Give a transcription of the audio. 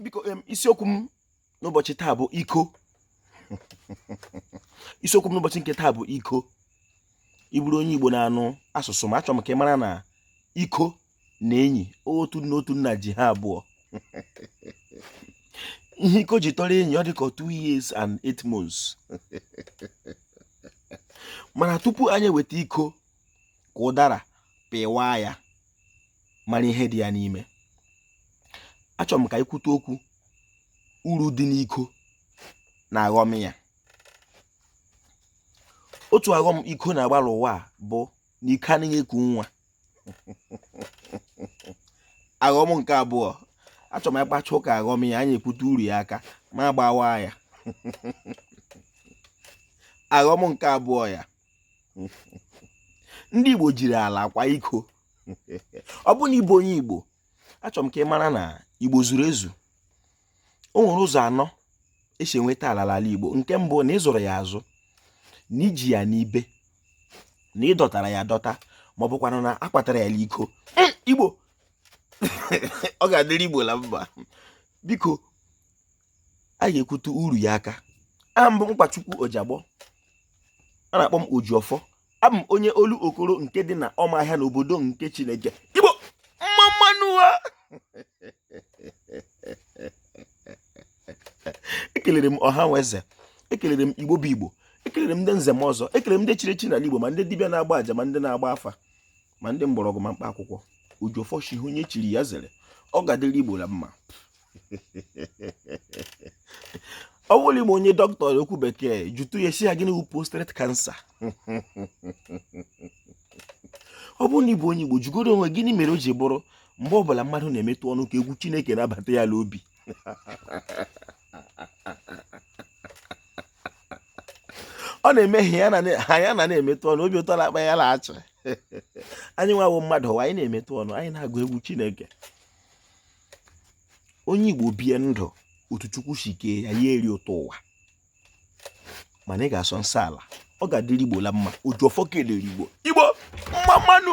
biko isiokwu m n'ụbọchị taa bụ iko isiokwu m n'ụbọchị nke taa bụ iko ị bụrụ onye Igbo na-anụ asụsụ m achọrọ m ka ị mara na iko na enyi otu nna otu nna ji ha abụọ ihe iko ji tọrọ enyi ọ dị ka two years and eight months mana tupu anyị eweta iko ka ụdara pịwaa ya mara ihe dị ya n'ime achọrọ m ka anyị kwute okwu uru dị n'iko na aghọm ya otu aghọm iko na-agbara ụwa bụ na iko anaghị eku nwa aghọm nke abụọ achọrọ m ịkpacha ụka aghọm ya anyị ekwute uru ya aka ma gbawa ya aghọm nke abụọ ya ndị Igbo jiri ala kwaa iko ọ bụ na ị bụ onye Igbo achọrọ m ka ị mara na Igbo zuru ezu o nwere ụzọ anọ e si enweta ala n'ala Igbo nke mbụ na ị zụrụ ya azụ na i ji ya n'ibe na ị dọtara ya adọta ma ọ bụkwanụ na a kwatara ya n'iko Igbo ọ ga-adịrị Igbo la mma biko a ga-ekwute uru ya aka aha m bụ Nkwachukwu Ojiagbọ a na-akpọ m Ojiọfọ abụ m onye Olokoro nke dị na ọmahịa n'obodo nke Chineke Igbo mma mma nụ ha ekelere m ọha na eze ekelere m igbo bụ igbo ekelere m ndị nze na ọzọ ekelere m ndị chiri echi n'ala igbo ma ndị dibịa na-agba aja ma ndị na-agba afa ma ndị mgbọrọgwụ na mkpa akwụkwọ Ojiọfọ shị ihe onye chiri ya zere ọ ga-adịrị igbo na mma ọ bụrụ na ị ma onye dọkịta okwu bekee jụtụ ya sị ya gịnị wụ prostate cancer ọ bụrụ na ị bụ onye igbo jụgodu onwe gịnị mere o ji bụrụ mgbe ọbụla mmadụ na-emetụ ọnụ ka egwu chineke na-abata ya n'obi ọ na-eme ha ya na na-emetụ ọnụ obi ụtọ na-akpa ya na-achị anyị nwa wụ mmadụ ụwa anyị na-emetụ ọnụ anyị na-agụ egwu chineke onye igbo bie ndụ otu chukwu si kee ya ya eri ụtọ ụwa mana ị ga-asọ nsọ ala ọ ga-adịrị igbo la mma Ojiọfọ ekelere igbo igbo mma mma nụ